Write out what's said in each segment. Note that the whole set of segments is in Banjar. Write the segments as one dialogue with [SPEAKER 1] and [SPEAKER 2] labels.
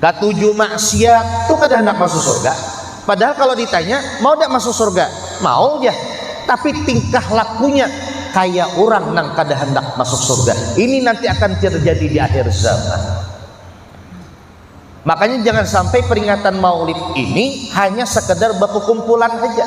[SPEAKER 1] Katuju maksiat tu kada handak masuk surga. Padahal kalo ditanya mau dak masuk surga, mau ja. Tapi tingkah lakunya kaya urang nang kada handak masuk surga. Ini nanti akan terjadi di akhir zaman. Makanya jangan sampai peringatan maulid ini hanya sekedar bakukumpulan haja.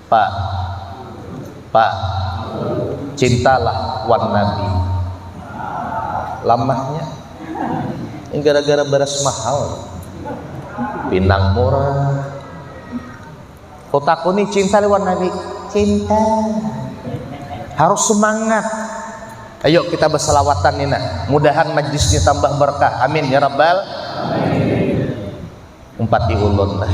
[SPEAKER 1] Pa pa cintalah wan nabi lamahnya ini gara-gara beras mahal pinang murah kau takuni cinta wan nabi cinta harus semangat ayo kita berselawatan nina mudahan majlisnya tambah berkah amin ya rabbal umpati ulun lah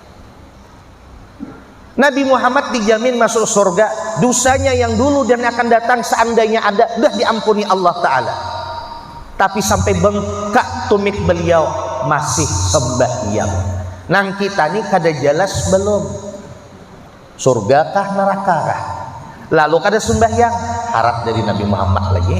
[SPEAKER 1] Nabi Muhammad dijamin masuk surga, dosanya yang dulu dan akan datang seandainya ada, sudah diampuni Allah Ta'ala. Tapi sampai bengkak tumit beliau, masih sembahyang. Nang kita nih kada jelas belum. Surga kah neraka kah? Lalu kada sembahyang, harap dari Nabi Muhammad lagi.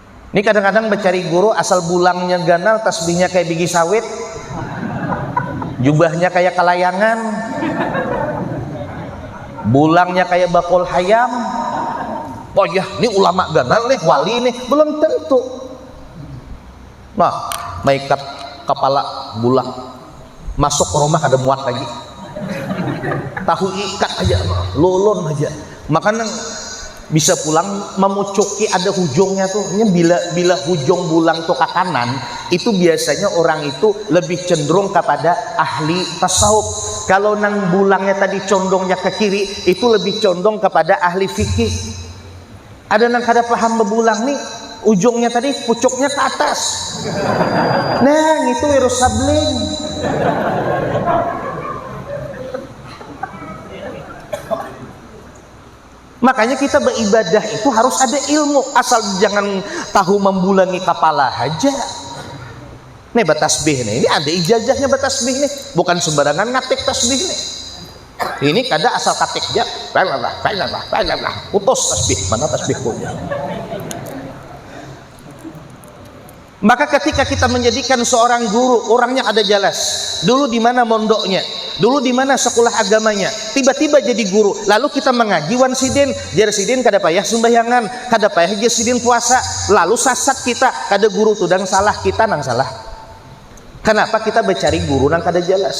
[SPEAKER 1] Ni kadang-kadang becari guru asal bulangnya ganal, tasbihnya kayak bigi sawit, jubahnya kayak kalayangan, bulangnya kayak bakul hayam. Oh ya, ini ulama ganal nih, wali nih, belum tentu. Nah, makeup kepala bulang, masuk rumah kada muat lagi tahu ikat aja lulun aja makanya bisa pulang memucuki ada hujungnya tuh ini bila bila hujung bulang tuh ke kanan itu biasanya orang itu lebih cenderung kepada ahli tasawuf kalau nang bulangnya tadi condongnya ke kiri itu lebih condong kepada ahli fikih Ada nang kada paham bebulang nih, ujungnya tadi pucuknya ke atas. Nah, itu virus sabling. Makanya kita beribadah itu harus ada ilmu, asal jangan tahu membulangi kepala aja. Nih batasbih nih, ini ada ijazahnya batasbih nih, bukan sembarangan ngatik tasbih nih. ini kada asal katik dia lalalala lalalala lalalala putus tasbih mana tasbih punya maka ketika kita menjadikan seorang guru orangnya ada jelas dulu di mana mondoknya dulu di mana sekolah agamanya tiba-tiba jadi guru lalu kita mengaji wan sidin jar sidin kada payah sumbahyangan kada payah jar sidin puasa lalu sasat kita kada guru tu dan salah kita nang salah kenapa kita mencari guru nang kada jelas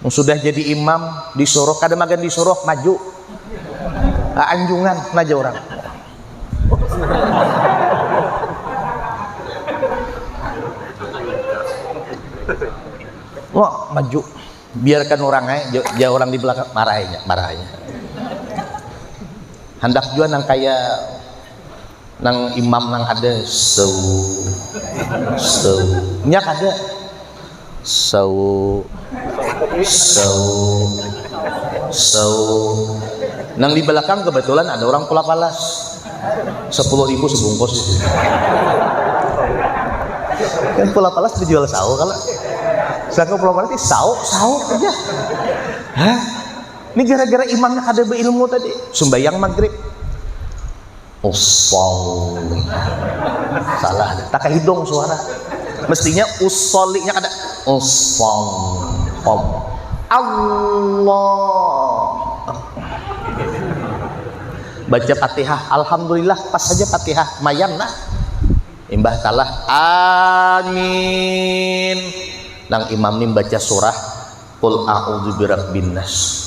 [SPEAKER 1] Yang sudah jadi imam di Sorok, kada magan di Sorok, maju. Nah, anjungan, naja orang. Wah, maju. Biarkan orang eh, dia orang di belakang marahnya, marahnya. Hendak juga nang kaya nang imam nang ada sewu sewu nyak ada Sawu Sawu Sawu Nang di belakang kebetulan ada orang pula palas Sepuluh ribu sebungkus Kan pula palas dijual sawu kalau Saka pula palas di sawu Sawu aja Hah? Ini gara-gara imamnya kada beilmu tadi Sembayang maghrib Usolli. Salah. Tak hidung suara. Mestinya usollinya ada. Usolli. Allah. Baca Fatihah. Alhamdulillah pas saja Fatihah. Mayan nah. Imbah kalah. Amin. Nang imam ini baca surah Qul a'udzu birabbin nas.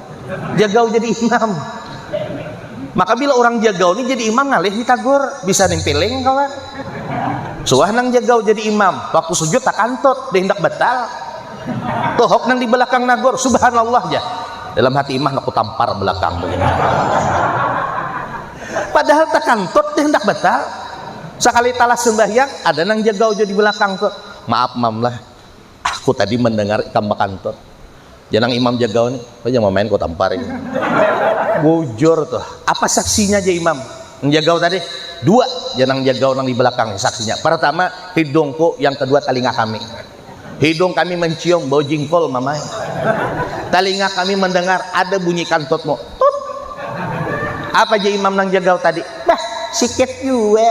[SPEAKER 1] Jagau jadi imam. Maka bila orang jagau ni jadi imam ngalih ditagur, bisa nimpiling kawan. Suah nang jagau jadi imam, waktu sujud tak kantut, dia hendak batal. Tohok nang di belakang nagur, subhanallah ja. Dalam hati imam aku tampar belakang begini. Padahal tak kantut dia hendak batal. Sekali talas sembahyang, ada nang jagau jadi belakang tuh. Maaf mam lah, Aku tadi mendengar ikam bakantut. Janang Imam Jagau ni, kau jangan main kau tampar ini. Bujur tuh. Apa saksinya aja Imam? Nang Jagau tadi. Dua janang Jagau nang di belakang ni saksinya. Pertama, hidungku, yang kedua talinga kami. Hidung kami mencium bau jingkol mamai. Talinga kami mendengar ada bunyi kantutmu. Tut. Apa aja Imam nang Jagau tadi? Bah, sikit jua.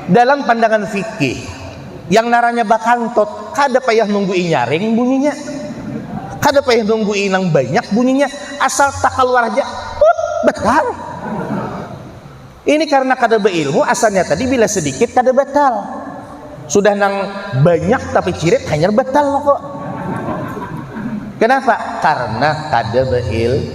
[SPEAKER 1] Dalam pandangan fikih, yang naranya bakantot kada payah nunggu inyaring bunyinya, kada payah nunggu inang banyak bunyinya, asal takaluar haja, put, batal. Ini karena kada beilmu, asalnya tadi bila sedikit kada batal, sudah nang banyak tapi cirit hanyar batal kok. Kenapa? Karena kada beil.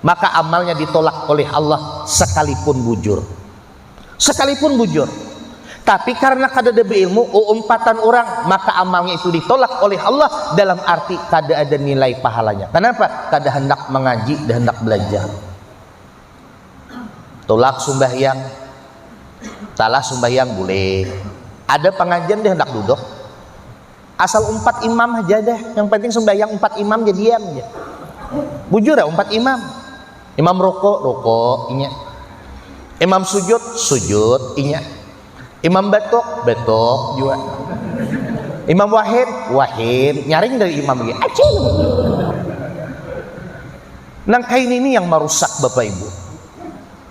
[SPEAKER 1] maka amalnya ditolak oleh Allah sekalipun bujur. Sekalipun bujur. Tapi karena kada ada beilmu, umpatan orang, maka amalnya itu ditolak oleh Allah dalam arti kada ada nilai pahalanya. Kenapa? Kada hendak mengaji, kada hendak belajar. Tolak sumbahyang, talah sumbahyang boleh. Ada pengajian dia hendak duduk. Asal umpat imam aja deh. Yang penting sembahyang umpat imam jadi diam aja. Bujur ya umpat imam. Imam rokok, rokok, inya. Imam sujud, sujud, inya. Imam batok, batok juga. Imam wahid, wahid. Nyaring dari imam ini. Acing. Nang kain ini yang merusak Bapak Ibu.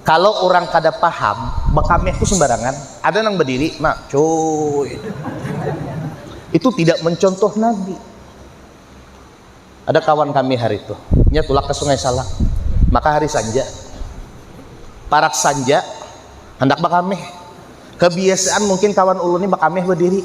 [SPEAKER 1] Kalo urang kada paham, bakameh tu sembarangan, ada nang badiri, nah cuy. Itu tidak mencontoh Nabi. Ada kawan kami hari itu, nya tulak ke Sungai Salak. Maka hari sanja, parak sanja, handak bakameh. Kebiasaan mungkin kawan ulun ni bakameh badiri.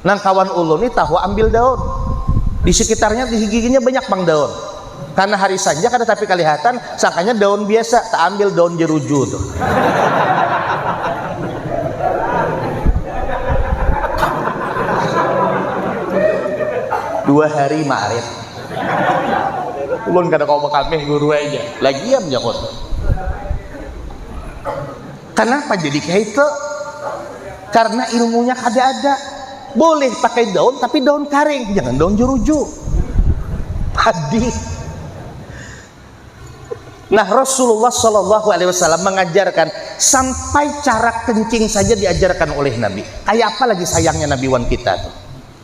[SPEAKER 1] Nang kawan ulun ni tahu ambil daun. Di sekitarnya di giginya banyak pang daun. Karena hari sanja kada tapi kalihatan, sangkanya daun biasa, tak ambil daun jeruju tu. Dua hari marit. Ulun kada kawa bakamih guru aja. Lagiam jakun. Kenapa jadi keiko? Karena ilmunya kada ada. Boleh pakai daun tapi daun kering, jangan daun jeruju. Padi. Nah Rasulullah Shallallahu Alaihi Wasallam mengajarkan sampai cara kencing saja diajarkan oleh Nabi. Kayak apa lagi sayangnya Nabi Wan kita tuh.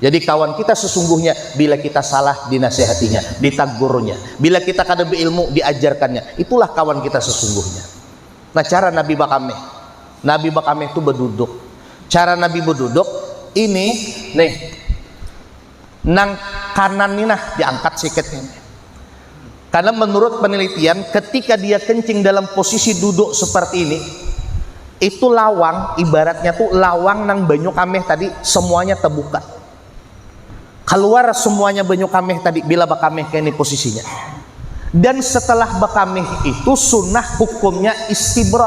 [SPEAKER 1] Jadi kawan kita sesungguhnya bila kita salah dinasihatinya, ditagurnya. Bila kita kada beilmu diajarkannya. Itulah kawan kita sesungguhnya. Nah cara Nabi Bakameh. Nabi Bakameh itu beduduk. Cara Nabi beduduk ini nih nang kanan ini nah diangkat sikit ini. Karena menurut penelitian, ketika dia kencing dalam posisi duduk seperti ini, itu lawang, ibaratnya tuh lawang nang banyu kameh tadi, semuanya terbuka. Keluar semuanya banyu kameh tadi, bila bakameh kayak ini posisinya. Dan setelah bakameh itu sunnah hukumnya istibra.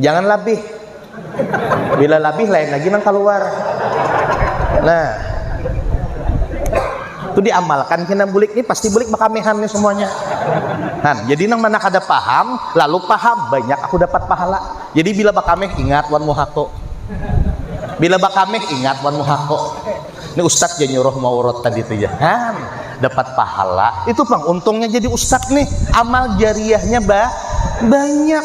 [SPEAKER 1] Jangan labih. Bila labih lain lagi nang keluar. Nah, itu diamalkan kena bulik ini pasti bulik bakamehan nih semuanya. Nah, jadi nang mana kada paham, lalu paham, banyak aku dapat pahala. Jadi bila bakameh ingat wan muhako. Bila bakameh ingat wan muhako. Ini ustadz jadi nyuruh mau urut tadi itu ya. Nah, dapat pahala. Itu pang untungnya jadi ustadz nih. Amal jariahnya ba banyak.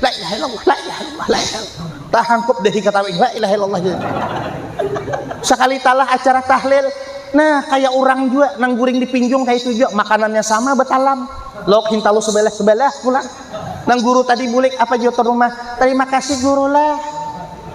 [SPEAKER 1] La ilaha illallah, la ilaha illallah, la ilaha illallah. Tahangkup deh ketawa, la ilaha illallah. Sekali talah acara tahlil, Nah, kayak orang juga nang guring di pinjung kayak itu juga makanannya sama betalam. Lauk hintalu sebelah-sebelah pulang. Nang guru tadi bulik apa jawab rumah? Terima kasih guru lah.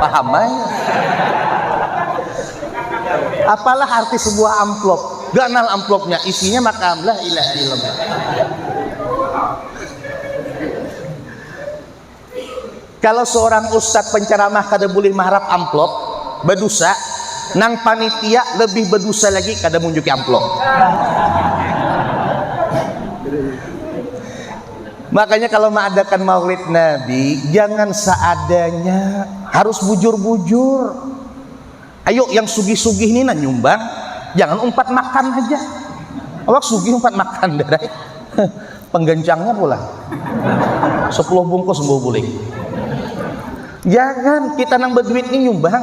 [SPEAKER 1] Paham ay. Apalah arti sebuah amplop? Ganal amplopnya, isinya maka lah ilah ilm. Kalau seorang ustadz penceramah kada boleh maharap amplop, berdosa, nang panitia lebih berdosa lagi kada munjuki amplop. Makanya kalau mengadakan maulid Nabi, jangan seadanya, harus bujur-bujur. Ayo yang sugih-sugih ini nah nyumbang, jangan umpat makan aja. Awak sugih umpat makan dari penggencangnya pula. Sepuluh bungkus bau bulik. Jangan kita nang berduit ini nyumbang.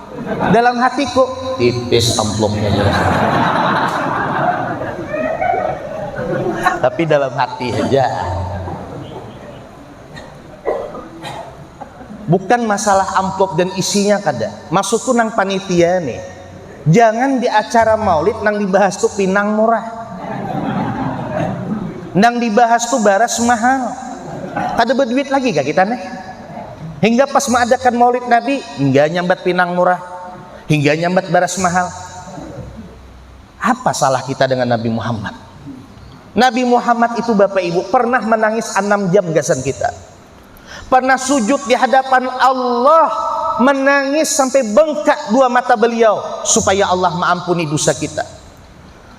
[SPEAKER 1] dalam hatiku tipis amplopnya jelas tapi dalam hati aja bukan masalah amplop dan isinya kada maksudku nang panitia nih jangan di acara maulid nang dibahas tuh pinang murah nang dibahas tuh baras mahal kada berduit lagi kah kita nih Hingga pas mengadakan maulid Nabi, hingga nyambat pinang murah, hingga nyambat baras mahal. Apa salah kita dengan Nabi Muhammad? Nabi Muhammad itu Bapak Ibu pernah menangis 6 jam gasan kita. Pernah sujud di hadapan Allah menangis sampai bengkak dua mata beliau supaya Allah mengampuni dosa kita.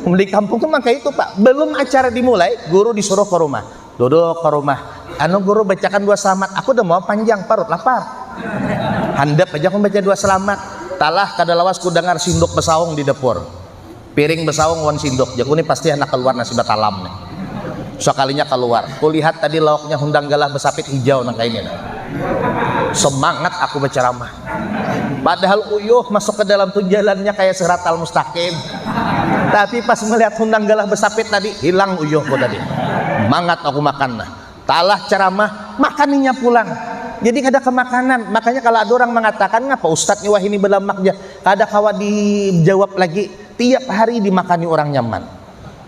[SPEAKER 1] Di kampung tuh maka itu pak, belum acara dimulai, guru disuruh ke rumah, duduk ke rumah. Anu guru bacakan dua selamat, aku udah mau panjang, parut lapar. Handap aja aku baca dua selamat. Talah kada lawas ku dengar sinduk besaung di dapur. Piring besaung wan sinduk, jaku ni pasti handak keluar nasi batalam nih. Sekalinya keluar, kulihat tadi lauknya hundang galah besapit hijau nang kaini nih. Semangat aku baceramah. Padahal uyuh masuk ke dalam tu jalannya kaya siratal mustaqim. Tapi pas melihat hundang galah besapit tadi, hilang uyuh ku tadi. Mangat aku makan nah. Talah ceramah, makan inya pulang. Jadi kada kemakanan. Makanya kalo ada urang mengatakan ngapa ustad ni wahini belamak ja. Kada kawa dijawab lagi. Tiap hari dimakani urang nyaman.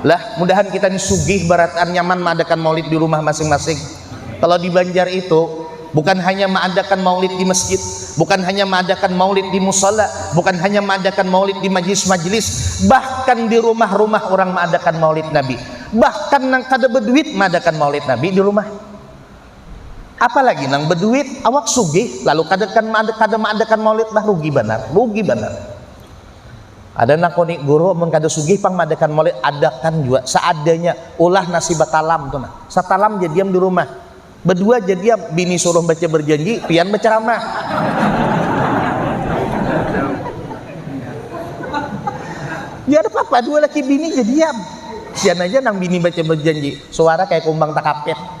[SPEAKER 1] lah mudahan kita ini sugih barataan nyaman mengadakan maulid di rumah masing-masing kalau di Banjar itu bukan hanya mengadakan maulid di masjid bukan hanya mengadakan maulid di musala bukan hanya mengadakan maulid di majlis-majlis bahkan di rumah-rumah orang mengadakan maulid Nabi bahkan nang kada berduit mengadakan maulid Nabi di rumah apalagi nang berduit awak sugih lalu kada kan kada mengadakan maulid lah rugi banar rugi banar Ada nang kuni guru mun kada sugih pang madakan maulid adakan jua seadanya ulah nasi batalam tu nah satalam ja diam di rumah badua ja diam bini suruh baca berjanji pian bacaramah ya ada papa dua laki bini ja diam sian aja nang bini baca berjanji suara kaya kumbang takapit.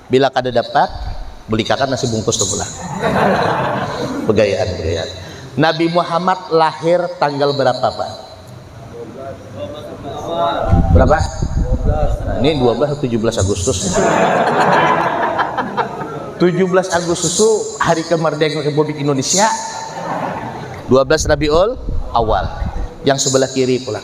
[SPEAKER 1] Bila kada dapat, belikakan nasi bungkus tu pulang. Begayaan, begayaan. Nabi Muhammad lahir tanggal berapa, Pak? Berapa? Ini 12 atau 17 Agustus. 17 Agustus itu hari kemerdekaan Republik Indonesia. 12 Rabiul Awal. Yang sebelah kiri pulang.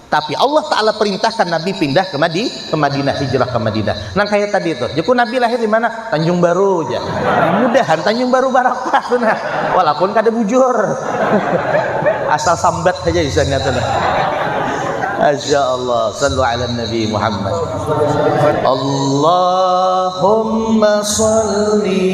[SPEAKER 1] Tapi Allah Ta'ala perintahkan Nabi pindah ke, Madi, ke Madinah, hijrah ke Madinah. Nang kayak tadi itu. Jaku Nabi lahir di mana? Tanjung Baru aja. Mudahan Tanjung Baru barapa tuh nah. Walaupun kada bujur. Asal sambat aja isanya tuh nah. Masya Allah. Sallu ala Nabi Muhammad. Allahumma salli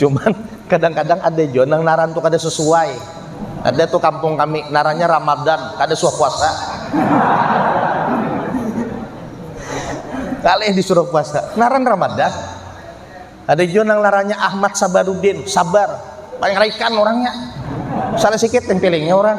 [SPEAKER 1] cuman kadang-kadang ada jo nang naran tuh kada sesuai ada tuh kampung kami narannya Ramadan kada suah puasa kalih disuruh puasa naran Ramadan ada jo nang narannya Ahmad Sabarudin sabar paling raikan orangnya salah sikit tempelingnya orang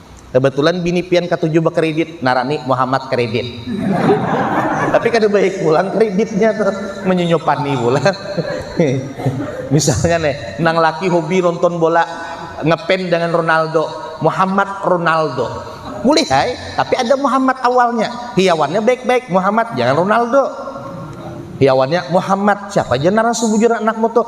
[SPEAKER 1] Kebetulan bini pian katuju bakredit, narani Muhammad Kredit. Tapi kada baik pulang kreditnya tuh, menyunyupani pulang. Misalnya nih, nang laki hobi nonton bola, ngepen dengan Ronaldo, Muhammad Ronaldo. Boleh hai, tapi ada Muhammad awalnya. Hiawannya baik-baik, Muhammad jangan Ronaldo. Hiawannya Muhammad, siapa aja narasubujur anakmu tuh?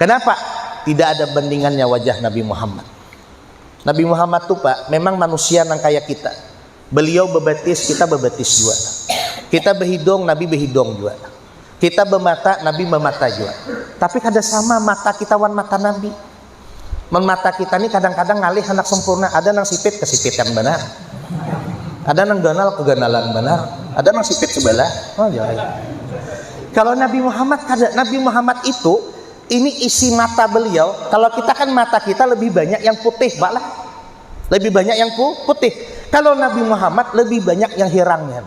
[SPEAKER 1] Kenapa? Tidak ada bandingannya wajah Nabi Muhammad. Nabi Muhammad tuh Pak, memang manusia nang kayak kita. Beliau bebetis, kita bebetis juga. Kita behidung, Nabi behidung juga. Kita bemata, Nabi memata juga. Tapi kada sama mata kita wan mata Nabi. Mun mata kita ni kadang-kadang ngalih handak sempurna, ada nang sipit kesipitan banar. Ada nang ganal keganalan banar, ada nang sipit sebelah. Oh, ya. Kalau Nabi Muhammad kada, Nabi Muhammad itu ini isi mata beliau. Kalau kita kan mata kita lebih banyak yang putih, Pak lah. Lebih banyak yang putih. Kalau Nabi Muhammad lebih banyak yang hirangnya.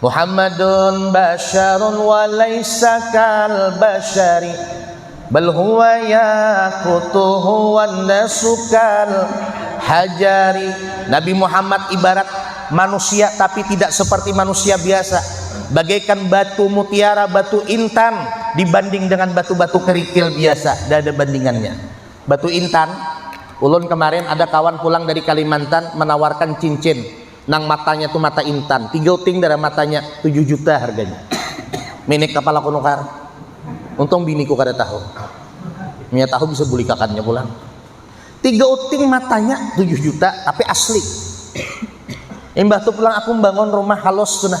[SPEAKER 1] Muhammadun basyarun wa laisa kal basyari bal huwa yaqutuhu wan nasu kal hajari Nabi Muhammad ibarat manusia tapi tidak seperti manusia biasa bagaikan batu mutiara batu intan dibanding dengan batu-batu kerikil biasa tidak ada bandingannya batu intan ulun kemarin ada kawan pulang dari Kalimantan menawarkan cincin nang matanya tu mata intan tiga uting darah matanya tujuh juta harganya minik kapal aku nukar untung biniku kada tahu nya tahu bisa bulikakannya pulang tiga uting matanya tujuh juta tapi asli imbah tu pulang aku membangun rumah halus tu nah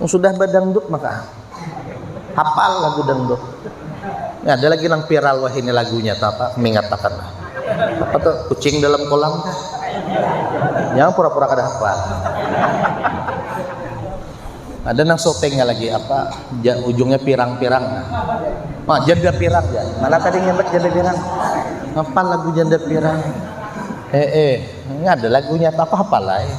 [SPEAKER 1] Yang sudah badangdut maka hafal lagu dangdut. Ya, ada lagi nang viral wah ini lagunya apa mengatakan apa tuh kucing dalam kolam yang pura-pura kada hafal ada nang sotengnya lagi apa ja, ujungnya pirang-pirang nah, janda pirang ya mana tadi nyemek janda pirang apa lagu janda pirang eh eh ini ada lagunya apa apa lah eh.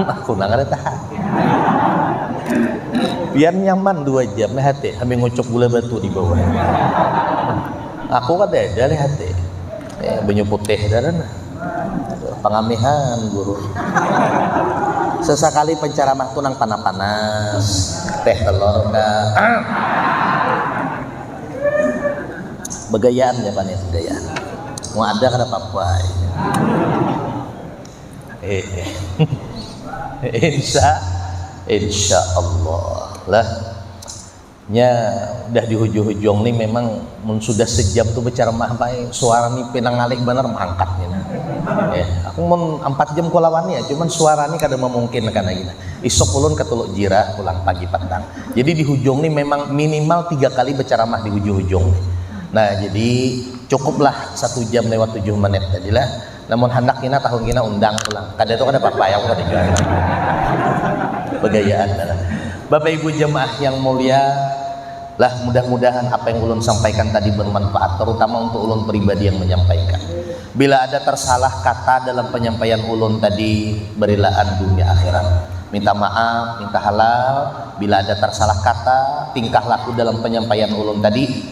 [SPEAKER 1] aku nang ada tahan biar nyaman dua jam leh hati sambil ngucuk gula batu di bawah aku kada ada leh hati eh, banyu putih dan pengamihan guru sesekali penceramah tu nang panas-panas teh telur dah begayaan ya pan ya begayaan mau ada kada apa-apa insya insya Allah lah nya udah di hujung-hujung nih memang mun sudah sejam tuh berceramah baik suara nih pinang alik bener mangkat nih nah. eh, aku mun empat jam ku lawan ya cuman suara nih kada memungkinkan lagi nah. isok ulun ke Teluk Jira pulang pagi petang jadi di hujung nih memang minimal tiga kali berceramah di hujung-hujung nah jadi cukuplah satu jam lewat tujuh menit tadi lah Namun handak kina tahun kina undang pulang. Kada tu kada papa yang kada jua. Begayaan lah. Bapak Ibu jemaah yang mulia, lah mudah-mudahan apa yang ulun sampaikan tadi bermanfaat terutama untuk ulun pribadi yang menyampaikan. Bila ada tersalah kata dalam penyampaian ulun tadi berilaan dunia akhirat. Minta maaf, minta halal bila ada tersalah kata, tingkah laku dalam penyampaian ulun tadi.